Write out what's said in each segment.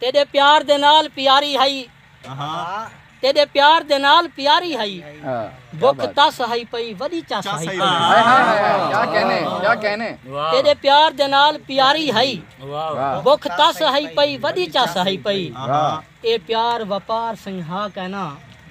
تیݙے پیار دے نال پیاری ہئی تیݙے پیار دے نال پیاری ہئی بکھ تس ہئی پئی وݙی چس ہئی تیݙے پیار دے نال پیاری ہئی بکھ تس ہئی پئی وݙی چس ہئی پئی اے پیار وپار سئیں ہا کینا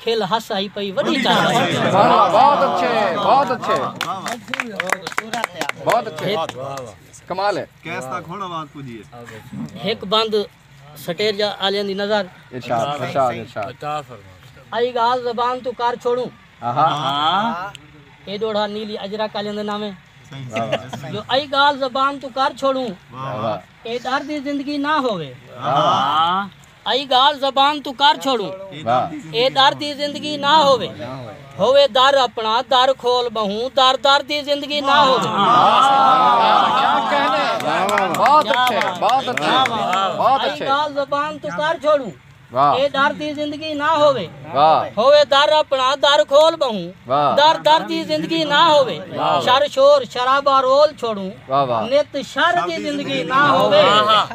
کھل ہس آئی پئی وڈی ہک بند سٹیر جا آلیاں دی نظر آئی گال زبان تو کر چھوڑوں اے ڈوڑا نیلی اجرک آلیاں دے نامے جو آئی گال زبان تو کر چھوڑوں اے ڈر دی زندگی نہ ہووے ائی گالھ زبان توں کر چھوڑوں۔ اے در دی زندگی نہ ہووے۔ ہووے در اپنا در کھول بہوں در در دی زندگی نہ ہووے۔ ائی گالھ زبان توں کر چھوڑوں۔ اے در دی زندگی نہ ہووے۔ ہووے در اپݨا در کھول ٻہوں در در دی زندگی نہ ہووے شر شور شرابہ رول چھوڑوں نت شر دی زندگی نہ ہووے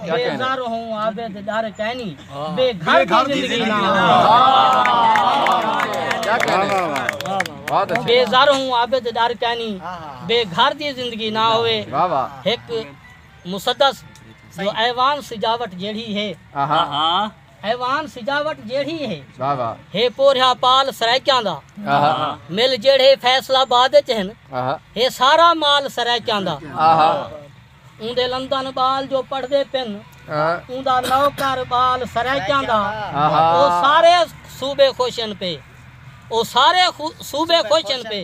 بے زر ہوں عابد ݙر کینی بے گھر دی زندگی نہ ہووے بے زر ہوں عابد ݙر کینی بے گھر دی زندگی نہ ہووے ہک مسدس جو ایوان سجاوٹ جیڑھی ہے ایوان سجاوٹ جیڑھی ہے۔ ہے پورھیا پال سرائیکیاں دا۔ مل جیڑھے فیصل آباد اچ ہن۔ ہے سارا مال سرائیکیاں دا۔ اوندے لندن ٻال جو پڑھدے پن۔ اوندا نوکر ٻال سرائیکیاں دا۔ او سارے صوبے خوش ہن پے۔ او سارے صوبے خوش ہن پے۔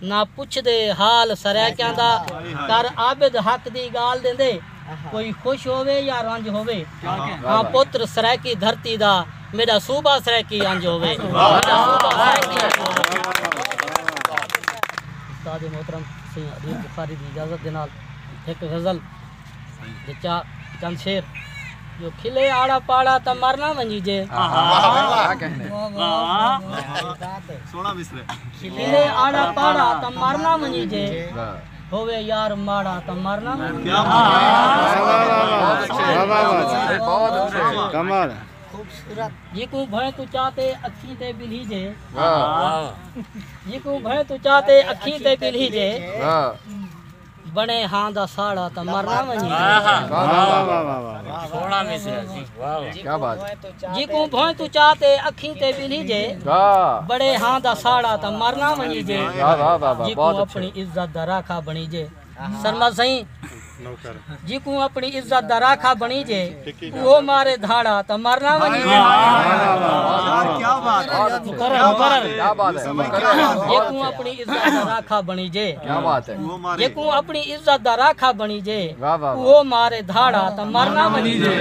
نہ پچھدے حال سرائیکیاں دا کر عابد حق دی گالھ دیندے کوئی خوش ہووے یا رنج ہووے ہاں پتر سرائیکی دھرتی دا میڈا صوبہ سرائیکی انج ہووے میڈا صوبہ سرائیکی انج ہووے استاد محترم سئیں عبید بخاری دی اجازت دے نال ہک غزل چند شیر جو کھلے آڑا پاڑا تا مرنا ونجی جے کھلے آڑا پاڑا تا مرنا ونجی جے ہوئے یار ماڑا تا مرنا ونجی جے کمال جیکوں بھائیں تو چاہتے اکھیں تے بلھی جے جیکوں بھائیں تو چاہتے اکھیں تے بلھی جے بݨے ہاں دا ساڑا تاں مرنا ونڄے۔ جیکوں بھوئیں توں چا تے اکھیں تے ٻلھی جے۔ بݨے ہاں دا ساڑا تاں مرنا ونڄے۔ جیکوں اپݨی عزت دا راکھا بݨیجے۔ سرمد سئیں۔ جیکوں اپݨی عزت دا راکھا بݨیجے اوہو مارے دھاڑا تاں مر نہ ونڄے۔ جیکوں اپݨی عزت دا راکھا بݨیجے جیکوں اپݨی عزت دا راکھا بݨیجے اوہو مارے دھاڑا تاں مر نہ ونڄے۔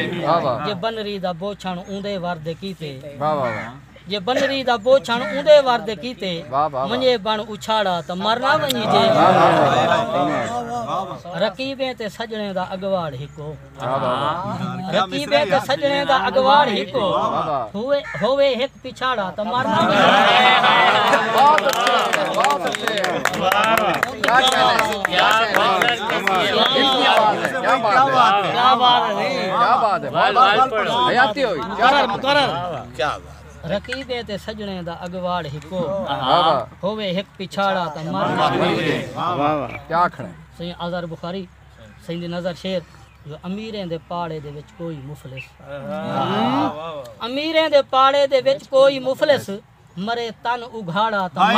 جے بنری دا بوچھݨ اوندے ور دے کیتے۔ جے بنری دا بوچھݨ اوندے ور دے کیتے ونڄے بݨ اچھاڑا تاں مر نہ ونڄی جے رقیبیں تے سڄݨیں دا اڳواڑ ہکو رقیبیں تے سڄݨیں دا اڳواڑ ہکو ہووے ہک پچھاڑا تاں مر نہ ونڄی جے رقیبیں تے سڄݨیں دا اڳواڑ ہکو ہووے ہک پچھاڑا تاں مر نہ ہووے سئیں آزار بخاری سئیں دی نظر شعر جو امیریں دے پاڑے دے وچ کوئی مفلس امیریں دے پاڑے دے وچ کوئی مفلس مرے تن اگھاڑا تاں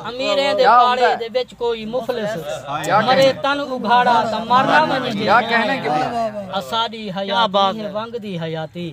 امیریں دے پاڑے دے وچ کوئی مفلس مرے تن اگھاڑا تاں مرنا منجے اساڈی حیاتی ہے ونگ دی حیاتی